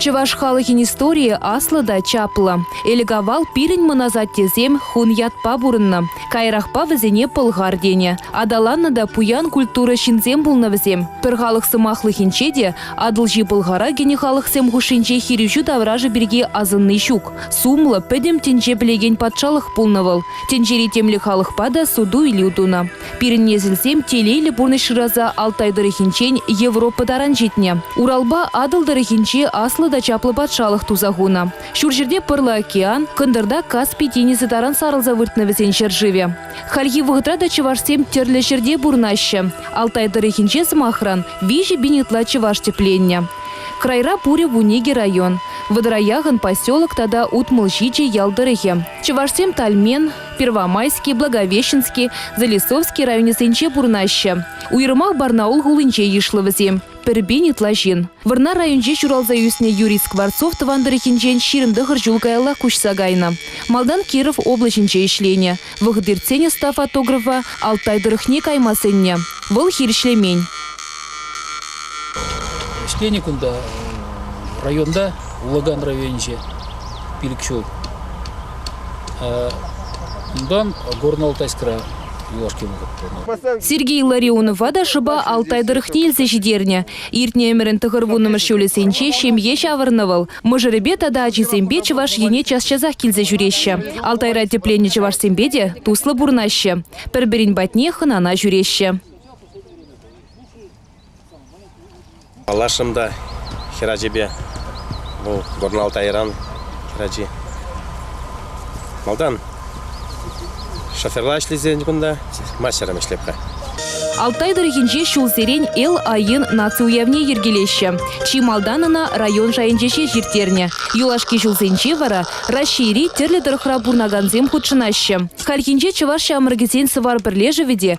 Чӑваш халӑхӗн историйӗ аслӑ та чаплӑ. Элӗк-авал пирӗн мӑн асаттесем хун ятпа пурӑннӑ. Каярахпа вӗсене пӑлхар тенӗ. Аталаннӑ та пуян культура ҫынсем пулнӑ вӗсем. Пӗр халӑх сӑмахлӑхӗнче те Атӑлҫи Пӑлхара кӗнӗ халӑхсем хушшинче хирӗҫӳ таврашӗ пирки асӑнни ҫук. Сумлӑ, пӗтӗм тӗнче пӗлекен патшалӑх пулнӑ вӑл. Тӗнчери темле халӑхпа та суту-илӳ тунӑ. Пирӗн несӗлсем телейлӗ пурнӑҫ шыраса Алтай тӑрӑхӗнчен Европа таран ҫитнӗ. Уралпа Атӑл тӑрӑхӗнчи аслӑ та чаплӑ патшалӑх туса хунӑ. Ҫурҫӗрте Пӑрлӑ океан, кӑнтӑрта Каспи тинӗсӗ таран сарӑлса выртнӑ вӗсен ҫӗршывӗ. Хальхи вӑхӑтра та чӑвашсем тӗрлӗ ҫӗрте пурӑнаҫҫӗ. Алтай тӑрӑхӗнче, сӑмахран, виҫӗ пин ытла чӑваш тӗпленнӗ. Крайра пурӗ вун икӗ район, Вӑтӑраях-н поселок тата Утмӑл ҫичӗ ял тӑрӑхӗ. Чӑвашсем Тальмен, Первомайски, Благовещенски, Залесовски районӗсенче пурӑнаҫҫӗ. Уйрӑмах Барнаул хулинче йышлӑ вӗсем пӗрпен ытла ҫын. Вӑрнар районӗнче ҫуралса ӳснӗ Юрий Скворцов тӑван тӑрӑхӗнчен ҫирӗм тӑхӑр ҫул каяллах куҫса кайнӑ. Малтан Киров облаҫӗнче ӗҫленӗ. Вӑхӑт иртсен ӑста фотографа Алтай тӑрӑхне кайма сӗннӗ. Вӑл хирӗҫлемен. Ӗҫленӗ кунта районта, Улӑган районӗнче пилӗк ҫул. Унтан Горно-Алтайскра юлашки вӑхӑт пурӑнатӑп. Сергей Ларионова та шӑпа Алтай тӑрӑхне илсе ҫитернӗ. Иртнӗ ӗмӗрӗн тӑхӑрвуннӑмӗш ҫулӗсенче ҫемье ҫавӑрнӑ вӑл. Мӑшӑрӗпе тата ачисемпе Чӑваш Ене час-часах килсе ҫӳреҫҫӗ. Алтайра тӗпленнӗ чӑвашсемпе те туслӑ пурӑнаҫҫӗ. Пӗр-пӗрин патне хӑнана ҫӳреҫҫӗ. Паллашрӑм та хӗр ачипе. Вӑл Горналтайран хӗр ачи. Малтан шоферла ӗҫлесен кунта, мастером ӗҫлеп-ха. Алтай тӑрӑхӗнче ҫулсерен Эл Айин наци уявне йӗркелеҫҫӗ. Чи малтан ӑна район шайӗнче ҫеҫ ирттернӗ. Юлашки ҫулсенче вара Раҫҫейри тӗрлӗ тӑрӑхра пурӑнакансем хутшӑнаҫҫӗ. Хальхинче чӑваш ҫамрӑкӗсен Сӑвар пӗрлешӗвӗ те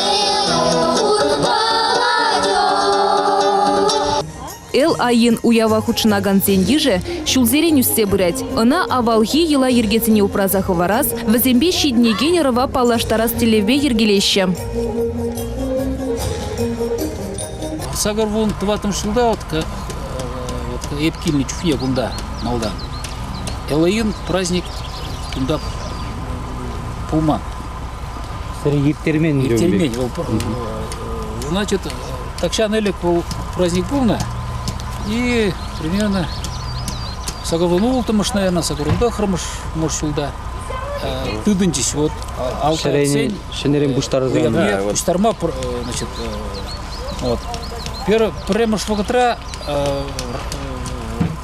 Эл-Айин уява хутшӑнакансен йышӗ ҫулсерен ӳссе пырать. Ӑна авалхи йӑла-йӗркесене упраса хӑварас, вӗсемпе ҫитӗнекен ӑрӑва паллаштарас тӗллевпе йӗркелеҫҫӗ. Сакӑр вун тӑваттӑмӗш ҫулта вот, э, вот эп килнӗ чухне кунта малтан Элоин праздник кунта пулман. Сӗр ирттермен. Ирттермен. Вӑл значит, тахҫан ӗлӗк был праздник пулнӑ. И примерно сакӑрлану улттӑмӗш, наверное, сакӑрланпа кырмӑш мӑш ҫулта тытӑнчӗҫ вот алтынсен ҫӗнӗрен пуҫтарса пуҫтарма значит вот пӗрремӗш вӑхӑтра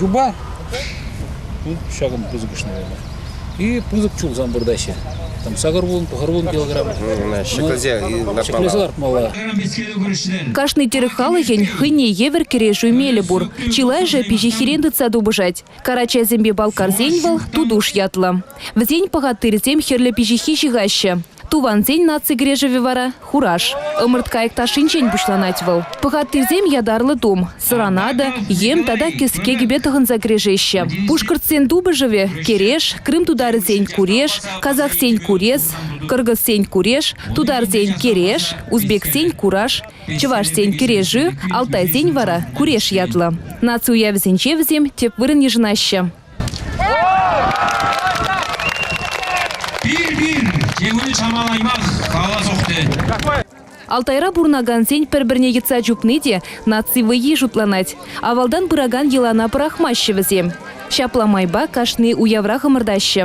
юпа ҫакӑн пысӑкӑшне вара. И пысӑк чулсам выртаҫҫӗ. Там сакӑр вун, пӑхӑр вун килограмм. Ҫӗклесе ҫӗклесе лартмалла. Кашни тӗрӗк халӑхӗн хӑйне евӗр кӗрешӳ мелӗ пур. Чылайӑшӗ пиҫиххирен тытса тупӑшать. Карачайсемпе балкарсен вӑл Тутуш ятлӑ. Вӗсен пӑхаттирсем хӗрлӗ пиҫиххи ҫыхаҫҫӗ. Тувансен наци кӗрешӗвӗ вара хураж. Ӑмӑрткайӑк ташшинчен пуҫланать вӑл. Пӑхаттисем ятарлӑ тум, сӑранада, йӗм тата кӗске кӗпе тӑхӑнса кӗрешеҫҫӗ. Пушкӑртсен тупӑшӑвӗ кӗреш, крым тутарӗсен куреш, казахсен курес, кыргызсен куреш, тутарсен кереш, узбексен кураж, чӑвашсен кӗрешӳ, алтайсен вара куреш ятлӑ. Наци уявӗсенче вӗсем тӗп вырӑн йышӑнаҫҫӗ. Пир-пир киввӗн саманайман каласох тет. Алтайра пурӑнакансен пӗр-пӗрне йӑтса чупни те наци вӑййи шутланать. Авалтан пыракан йӑлана пӑрахмаҫҫӗ вӗсем. Ҫапла майпа кашни уяврах ӑмӑртаҫҫӗ.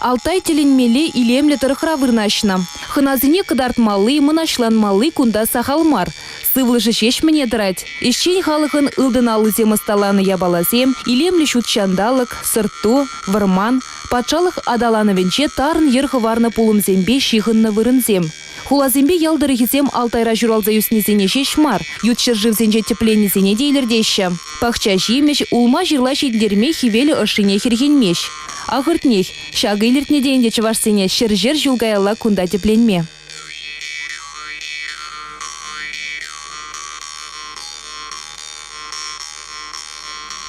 Алтай тӗлӗнмелле илемлӗ тӑрӑхра вырнаҫнӑ. Хӑнасене кӑтартмалли, мӑнаҫланмалли кунта сахал мар. Сывлӑшӗ ҫеҫ мӗне тӑрать. Ӗҫчен халӑхӑн ылтӑн аллисем ӑсталанӑ япаласем, илемлӗ ҫут ҫанталӑк, сӑрт-ту, вӑрман, патшалӑх аталанӑвӗнче тарӑн йӗр хӑварнӑ пулӑмсемпе ҫыхӑннӑ вырӑнсем. Хуласемпе ял тӑрӑхӗсем Алтайра ҫуралса ӳснисене ҫеҫ мар, ют ҫӗршывсенче тӗпленнисене те илӗртеҫҫӗ. Пахча-ҫимӗҫ, улма-ҫырла ҫитӗнтерме хӗвел ӑшшине хӗрхенмест. Ахӑртнех, ҫакӑ илӗртнӗ те ӗнтӗ чӑвашсене ҫӗр-ҫӗр ҫул каялла кунта тӗпленме.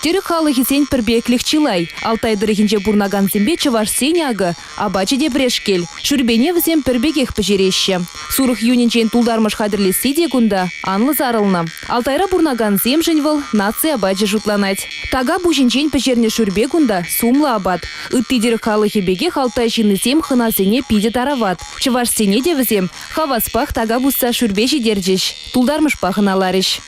Тӗрӗк халӑхӗсен пӗрпеклӗх чылай. Алтай тӑрӑхӗнче пурӑнакансемпе чӑвашсен акӑ Апачӗ те пӗрешкел. Шӳрпене вӗсем пӗр пекех пӗҫереҫҫӗ. Сурӑх юнӗнчен тултармӑш хатӗрлесси те кунта анлӑ сарӑлнӑ. Алтайра пурӑнакансемшӗн вӑл наци апачӗ шутланать. Така пуҫӗнчен пӗҫернӗ шӳрпе кунта сумлӑ апат. Ытти тӗрӗк халӑхӗ пекех алтай ҫыннисем хӑнасене питӗ тарават. Чӑвашсене те вӗсем хаваспах така пусса шӳрпе ҫитерчӗҫ, тултармӑшпа хӑналарӗҫ.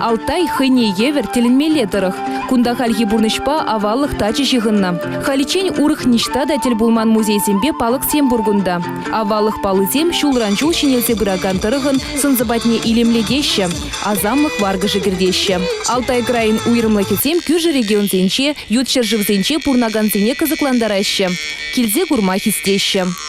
Алтай хӑйне евӗр тӗлӗнмелле тӑрӑх. Кунта хальхи пурнӑҫпа аваллӑх тачи ҫыхӑннӑ. Халиччен урӑх ниҫта та тӗл пулман музейсемпе палӑксем пур кунта. Аваллӑх паллисем ҫулран-ҫул ҫӗнелсе пыракан тӑрӑхӑн сӑн-сӑпатне илемлетеҫҫӗ, асамлӑх варкӑшӗ кӗртеҫҫӗ. Алтай крайӗн уйрӑмлӑхӗсем кӳршӗ регионсенче, ют ҫӗршывсенче пурӑнакансене кӑсӑклантараҫҫӗ, килсе курма хистеҫҫӗ.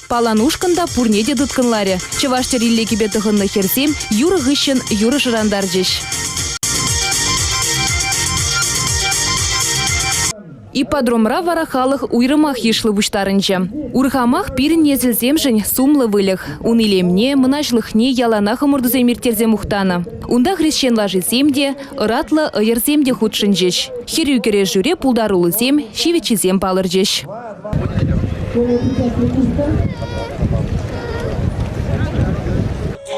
Палан ушкӑн та пурне те тыткӑнларӗ. Чӑваш чӗрилле кӗпе тӑхӑннӑ хӗрсем юрӑ хыҫҫӑн юрӑ шӑрантарчӗҫ. Ипподромра вара халӑх уйрӑмах йышлӑ пуҫтарӑнчӗ. Урхамах пирӗн несӗлсемшӗн сумлӑ выльӑх. Ун илемне, мӑнаҫлӑхне яланах ӑмӑртусем ирттерсе мухтанӑ. Унта хресчен лашисем те, ӑратлӑ ӑйӑрсем те хутшӑнчӗҫ. Хӗрӳ кӗрешӳре пултаруллисем, ҫивӗччисем палӑрчӗҫ.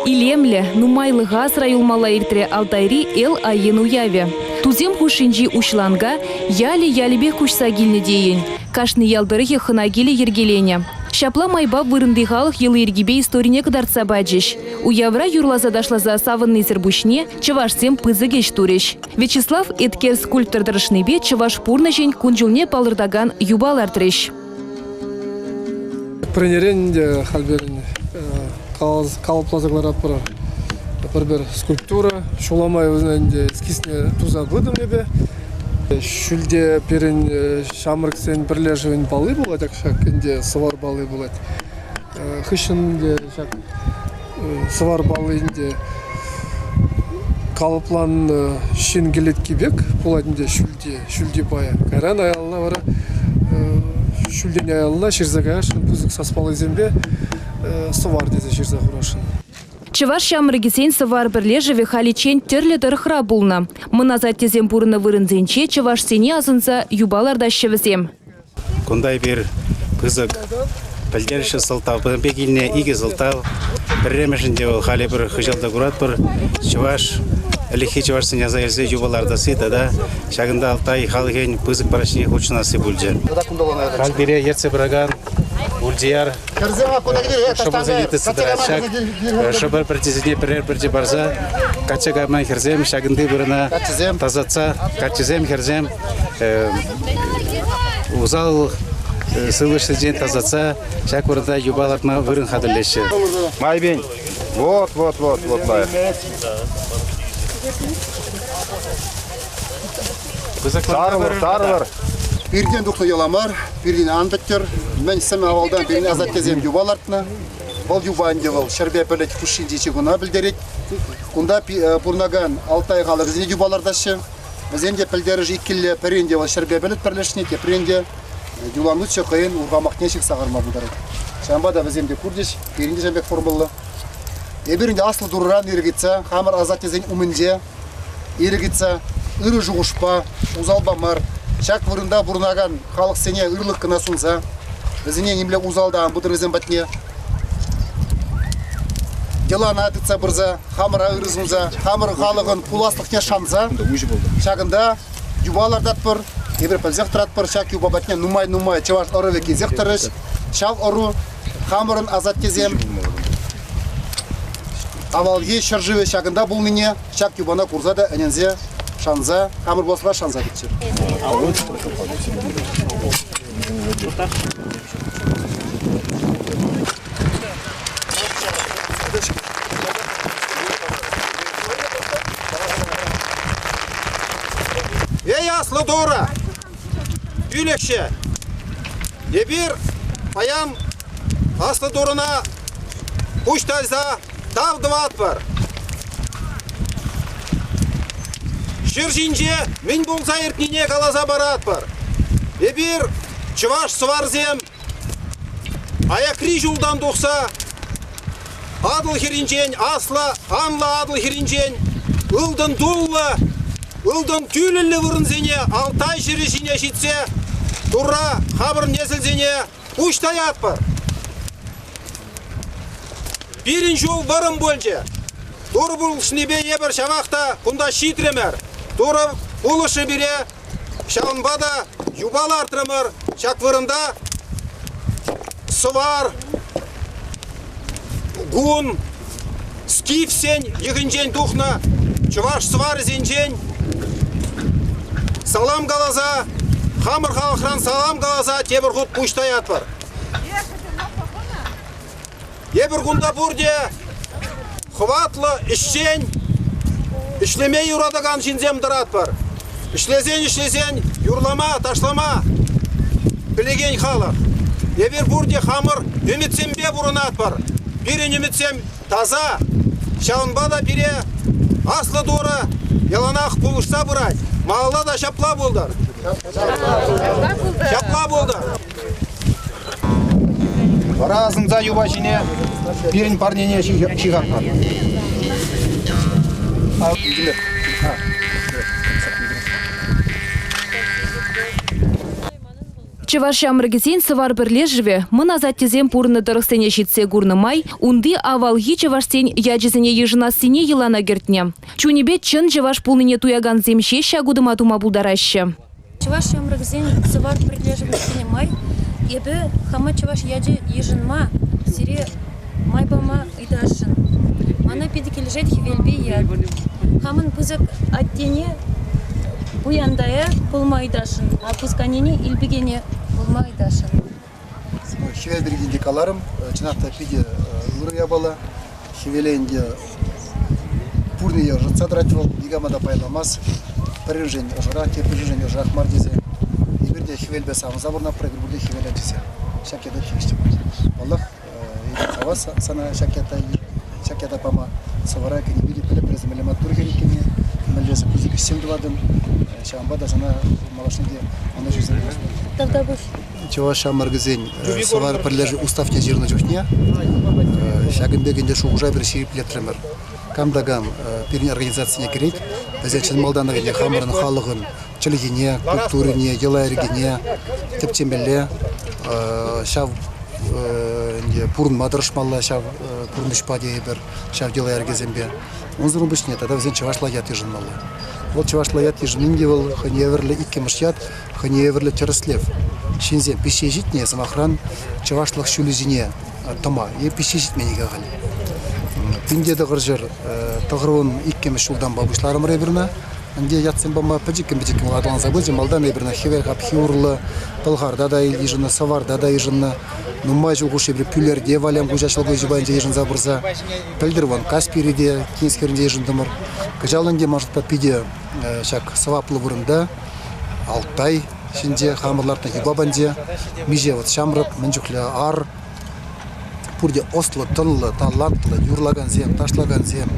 Илемлӗ, нумайлӑха асра юлмалла иртрӗ Алтайри Эл-Айен уявӗ. Тусем хушшинчи уҫланка ялӗ-ялӗпех куҫса килнӗ тейӗн. Кашни ял тӑрӑхӗ хӑна килӗ йӗркеленӗ. Ҫапла майпа вырӑнти халӑх йӑли-йӗркипе историне кӑтартса пачӗҫ. Уявра юрласа ташласа савӑннисӗр пуҫне чӑвашсем пысӑк ӗҫ турӗҫ. Вячеслав Эткер скульптор тӑрӑшнипе чӑваш пурнӑҫӗн кун-ҫулне палӑртакан юпа лартрӗҫ. Тренерен те халь пирӗн калӑпласа кӑларатпӑр пӗр-пӗр скульптура. Ҫул май вӗсен ӗнтӗ эскизне туса пытӑм эпӗ. Ҫӳлте пирӗн ҫамрӑксен пӗрлешӗвӗн палли пулать ҫак ӗнтӗ сӑвар палли пулать. Хыҫҫӑн ӗнтӗ ҫак сӑвар паллин те калӑпланнӑ ҫын кӗлетки пек пулать ӗнтӗ ҫӳлти ҫӳлти пая. Кайран аялла вара ҫӳлтен аялла ҫырса каясшӑн пысӑк саспаллисемпе сӑвар тесе ҫырса хурасшӑн. Чӑваш ҫамрӑкӗсен сӑвар пӗрлешӗвӗ халиччен тӗрлӗ тӑрӑхра пулнӑ. Мӑн асаттесем пурӑннӑ вырӑнсенче чӑвашсене асӑнса юпа лартаҫҫӗ вӗсем. Кунта эпир пысӑк пӗлтерӗшлӗ сӑлтавпа пек илнӗ икӗ сӑлтав. Пӗрремӗшӗн те вӑл халӗ пӗр хыҫал та куратпӑр. Чӑваш ӗлӗкхи чӑвашсен аса илсе юпа лартасси тата ҫакӑнта Алтай халӑхӗн пысӑк праҫнине хутшӑнасси пулчӗ. Халь пире ертсе пыракан Ульдияр шӑпӑрсене тытса ҫак шӑпӑр пӗрчисене пӗрер пӗрчи парса качча кайма хӗрсем ҫакӑнти вырӑна тасатса каччӑсем хӗрсем усал сывлӑшсенчен тасатса ҫак вырӑнта юпа лартма вырӑн хатӗрлеҫҫӗ. Майбин, вот, вот, вот, вот лайӑх. Сарӑлӑр, сарӑлӑр. Пиртен тухнӑ яла мар, пиртен ан тӗттер. Мӗн сӗмӗ авалдан пирӗн асаттесем юпа лартнӑ. Вӑл юпа ӗнтӗ вӑл ҫӗрпе пӗлӗт хушшинчи чикуна пӗлтерет. Кунта пурӑнакан Алтай халӑхӗсене юпа лартаҫҫӗ. Вӗсем те пӗлтерӗш иккилле, пӗрин те вӑл ҫӗрпе пӗлӗт пӗрлешни, теприн те юланутҫӑ хӑйӗн урхамахне ҫыхса харма пултарать. Ҫавӑнпа та вӗсем те курчӗҫ, пирӗн те ҫав пек курмалла. Эпир ӗнтӗ аслӑ турӑран ирӗк ыйтса хамӑр асаттесен умӗнче ирӗк ыйтса ырӑ шухӑшпа, усалпа мар, ҫак вырӑнта пурӑнакан халӑхсене ырлӑх кӑна сунса, вӗсене нимле усал та ан пытӑр вӗсем патне. йӑлана тытса пырса, хамӑра ырӑ сунса, хамӑр халӑхӑн пуласлӑхне шанса, ҫакӑнта юпа лартатпӑр, эпир пӗлсех тӑратпӑр, ҫак юпа патне нумай-нумай чӑваш ӑрӑвӗ килсех тӑрӗҫ. Ҫав ӑру хамӑрӑн асаттесем авалхи ҫӗршывӗ ҫакӑнта пулнине ҫак юпана курса та ӗненсе шанса, хамӑр пуласлӑха шанса кӗччӗ. Эй, аслы дура! Пӳлӗхҫӗ! Эпир паян аслӑ турӑна пуҫ тайса Тав тӑватпӑр! Ҫӗр ҫинче мӗн пулса иртнине каласа паратпӑр. Эпир, чӑваш сӑварсем, аякри ҫултан тухса Атӑл хӗрринчен, аслӑ, анлӑ Атӑл хӗрринчен ылтӑн туллӑ, ылтӑн тӳлӗллӗ вырӑнсене Алтай ҫӗрӗ ҫине ҫитсе Турра хамӑр несӗлсене Пуҫ таятпӑр! Пирӗн ҫул вӑрӑм пулчӗ. Турпулӑшнипе эпир ҫавах та кунта ҫитрӗмӗр. Турӑ пулӑшрӗ пире. Ҫавӑнпа та юпа лартрӑмӑр. Ҫак вырӑнта сӑвар, Кун скифсен йӑхӗнчен тухнӑ чӑваш сӑварӗсенчен салам каласа, хамӑр халӑхран салам каласа тепӗр хут пуҫ таятпӑр. Эпӗр кунта пурте Хӑватлӑ ӗҫчен, ӗҫлеме юратакан ҫынсем тӑратпӑр. Ӗҫлесен ӗҫлесен юрлама, ташлама пӗлекен халӑх. Эпир пурте хамӑр ӗмӗтсемпе пурӑнатпӑр. Пирӗн ӗмӗтсем таса, ҫавӑнпа та пире Аслӑ Турӑ яланах пулӑшса пырать. Малалла та ҫапла пултӑр. Ҫапла пултӑр. Ҫапла пултӑр. Вара асӑнса юпа ҫине пирӗн парнене ҫыхатпӑр. Чӑваш ҫамрӑкӗсен Сӑвар пӗрлешӗвӗ мӑн асаттесем пурӑннӑ тӑрӑхсене ҫитсе курнӑ май унти авалхи чӑвашсен ячӗсене йышӑнассине йӑлана кӗртнӗ. Чунӗпе чӑн чӑваш пулнине туякансем ҫеҫ ҫак утӑма тума пултараҫҫӗ. Чӑваш ҫамрӑкӗсен Сӑвар пӗрлешӗвӗсене май эпӗ хама чӑваш ячӗ йышӑнма, сире май пама ыйтасшӑн. Мана питӗ килӗшет хӗвелпе ят. Хамӑн пысӑк аттене пуянтая пулма ыйтасшӑн, а пусканене илпекене пулма ыйтасшӑн. Хӗвел пирки те каларӑм. Чӑнах та питӗ ырӑ япала. Хӗвеле ӗнтӗ пурне ӑшӑтса тӑрать вӑл, никама та пайланмасть. Пӗриншӗн ӑшӑрах, теприншӗн ӑшӑрах мар тесе. Эпир те хӗвелпе савӑнса пурӑнатпӑр, эпир пурте хӗвел ачисем. Ҫак ята тивӗҫтермӗш. Паллах, Эсир савас сана ҫак ята, ҫак ята пама. Сӑвӑра кӗнекӳ те пӗлӗп, пӗлесӗ мӗнле маттур хӗр иккенне, мӗнле пысӑк ӗҫсем тӑватӑн. Ҫавӑнпа та сана малашне те ӑнӑҫусем Тавтапуҫ. Чӑваш ҫамрӑкӗсен Сӑвар пӗрлешӳ уставне ҫырнӑ чухне ҫакӑн пек ӗнтӗ шухӑша пӗр ҫирӗплетрӗмӗр. Кам та кам пирӗн организацине кӗрет, вӗсен чӑн малтанах ӗнтӗ хамӑрӑн халӑхӑн чӗлхине, культурине, йӑла-йӗркене тӗпчемелле, ҫав ӗнтӗ пурӑнма тӑрӑшмалла ҫав пурнӑҫпа тейӗпӗр ҫав йӑла-йӗркесемпе. Унсӑрӑн пуҫне тата вӗсен чӑвашла ят йышӑнмалла. Вӑл чӑвашла ят йышӑнин те вӑл хӑйне евӗрлӗ иккӗмӗш ят, хӑйне евӗрлӗ тӗрӗслев. Ҫынсем пиҫсе ҫитнӗ сӑмахран чӑвашлӑх ҫулӗсене тӑма е пиҫсе ҫитмен-ҫке халь. Пин те тӑхӑрҫӗр тӑхӑрвун иккӗмӗш ҫултанпа пуҫларӑмӑр эпир ӑна. Ӗнтӗ ятсем пама пӗчӗккӗн-пӗчӗккӗн вӑл аталанса пычӗ. Малтан эпир ӑна хӗвел хапхи урлӑ, пӑлхарта та йышӑннӑ, сӑварта та йышӑннӑ. Нумай ҫул хушши эпир Пӳлерте, Валям хуҫа ҫӑлкуҫӗ пайӗнче йышӑнса пырса пӗлтӗр вӑл Каспире те, Кинск хӗрринче йышӑнтӑмӑр. Кӑҫал ӗнтӗ маршрутпа питӗ ҫак сӑваплӑ вырӑнта Алтай ҫинче хамӑр лартнӑ юпа панче, миҫе вот ҫамрӑк, мӗн чухлӗ ар, Пурте ӑслӑ, тӑнлӑ, талантлӑ юрлакансем, ташлакансем,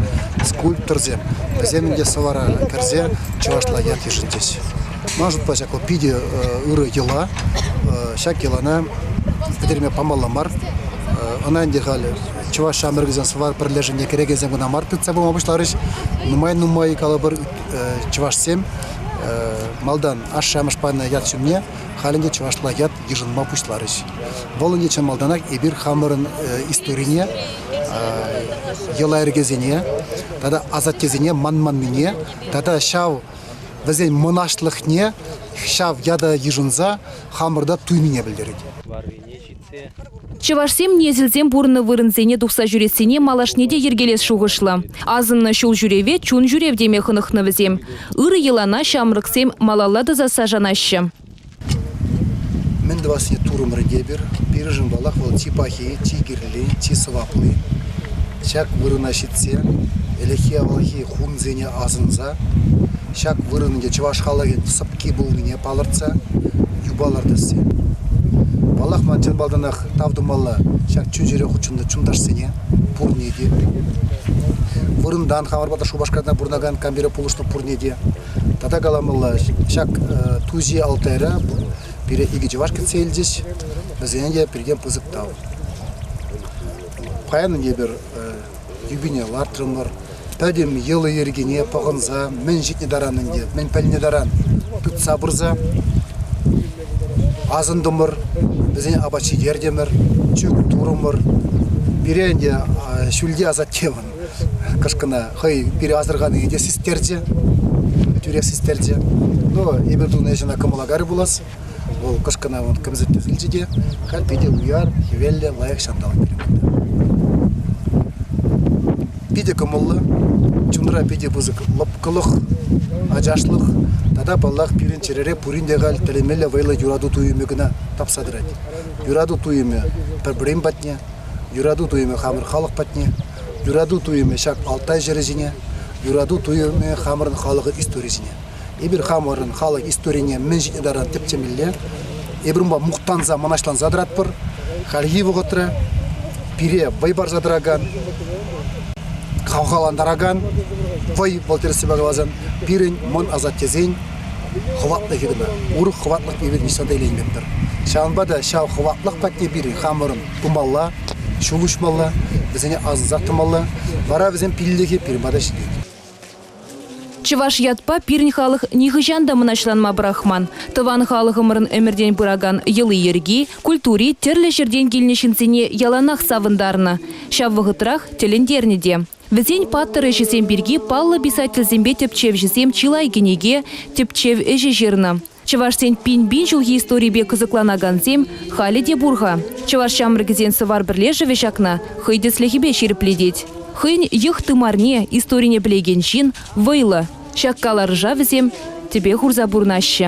скульпторсем. Вӗсем те сӑвӑра кӗрсе чӑвашла ят йышӑнчӗҫ. Ман шутпа ҫак вӑл питӗ ырӑ йӑла. Ҫак йӑлана пӗтерме памалла мар. Ӑна ӗнтӗ халь чӑваш ҫамрӑкӗсен сӑвар пӗрлешӗвне кӗрекесем кӑна мар тытса пыма пуҫларӗҫ. Нумай-нумай калӑпӑр чӑвашсем малтан ашшӗ-амӑш панӑ ят ҫумне халь ӗнтӗ чӑвашла ят йышӑнма пуҫларӗҫ. Вӑл ӗнтӗ чӑн малтанах эпир хамӑрӑн историне, йӑла-йӗркесене тата асаттесене манманнине тата ҫав вӗсен мӑнаҫлӑхне ҫав ята йышӑнса хамӑрта туйнине пӗлтерет. Чӑвашсем несӗлсем пурӑннӑ вырӑнсене тухса ҫӳрессине малашне те йӗркелес шухӑшлӑ. Асӑннӑ ҫул ҫӳреве чун ҫӳрев теме хӑнӑхнӑ вӗсем. Ырӑ йӑлана ҫамрӑксем малалла тӑсасса шанаҫҫӗ. Мӗн тӑвассине турӑмӑр тепӗр. Пирӗншӗн паллах вӑл чи пахи, чи кирли, чи сӑвапли. Ҫак вырӑна ҫитсе ӗлӗкхи-авалхи хунсене асӑнса ҫак вырӑн ӗнтӗ чӑваш халӑхӗн сӑпки пулнине палӑртса юпа лартасси. Паллах, ман чӑн малтанах тав тумалла ҫак чун-чӗре хутшӑннӑ чунташсене, пурне те. Вырӑнтан хамӑрпа та Шупашкарта пурӑнакан кампире пулӑшнӑ пурне те. Тата каламалла, ҫак ту-ҫи Алтайра пире икӗ чӑваш кӗтсе илчӗҫ. Вӗсене те пиртен пысӑк тав. Паян эпир юпине лартрӑмӑр. Пӗтӗм йӑли-йӗркине пӑхӑнса мӗн ҫитнӗ таран ӗнтӗ, мӗн пӗлнӗ таран тытса пырса асӑнтӑмӑр, вӗсене апат ҫитертӗмӗр, чӳк турӑмӑр. Пире ӗнтӗ ҫӳлти асатте вӑн. Кӑшкӑна хӑй пире асӑрханине те систерчӗ, тӳрех систерчӗ. Ну, эпир тунӑ ӗҫ ӑна кӑмӑла кайрӗ пулас. Вӑл кӑшкӑна вӑл кӗмсӗрттерсен те халь питӗ уяр, хӗвеллӗ, лайӑх ҫанталӑк перекенде. Питӗ кӑмӑллӑ, чунра питӗ пысӑк лӑпкӑлӑх, ачашлӑх тата паллах пирӗн чӗрере пурин те халь тӗлӗнмелле вӑйлӑ юрату туйӑмӗ кӑна тапса тӑрать. Юрату туйӑмӗ пӗр-пӗрин патне Юрату туйӑмӗ хамӑр халӑх патне, юрату туйӑмӗ ҫак Алтай ҫӗрӗ ҫине, юрату туйӑмӗ хамӑрӑн халӑхӑн историйӗ ҫине. Эпир хамӑрӑн халӑх историне мӗн ҫитнӗ таран тӗпчемелле, эпир унпа мухтанса, мӑнаҫланса тӑратпӑр. Хальхи вӑхӑтра пире вӑй парса тӑракан, хавхалантаракан вӑй, вӑл тӗрӗссипе каласан, пирӗн мӑн асаттесен Хӑватлӑ ҫынна урӑх хӑватлӑх пирки вӑтӑртатса та илеймӗпӗр. Ҫавӑнпа та ҫав хӑватлӑх патне пирӗн хамӑрӑн пымалла, ҫул уҫмалла, вӗсене асӑнсах тӑмалла. Вара вӗсен пиллӗхӗ пирӗн пата ҫитет. Чӑваш ятпа пирӗн халӑх нихӑҫан та мӑнаҫланма пӑрахман. Тӑван халӑхӑмӑрӑн ӗмӗртен пыракан йӑли-йӗрки, культури тӗрлӗ ҫӗртен килнӗ ҫынсене яланах савӑнтарнӑ, ҫав вӑхӑтрах тӗлӗнтернӗ те. Вӗсен паттӑр ӗҫӗсем пирки паллӑ писательсемпе тӗпчевҫӗсем чылай кӗнеке, тӗпчев ӗҫӗ ҫырнӑ. Чӑвашсен пин-пин ҫулхи историпе кӑсӑкланакансем халӗ те пур-ха. Чӑваш ҫамрӑкӗсен сӑвар пӗрлешӗвӗ ҫакна хӑй тӗслӗхӗпе ҫирӗплетет. Хӑйӗн йӑх тымарне, историне пӗлекен ҫын, вӑйлӑ. Ҫак каларӑша вӗсем тӗпе хурса пурӑнаҫҫӗ.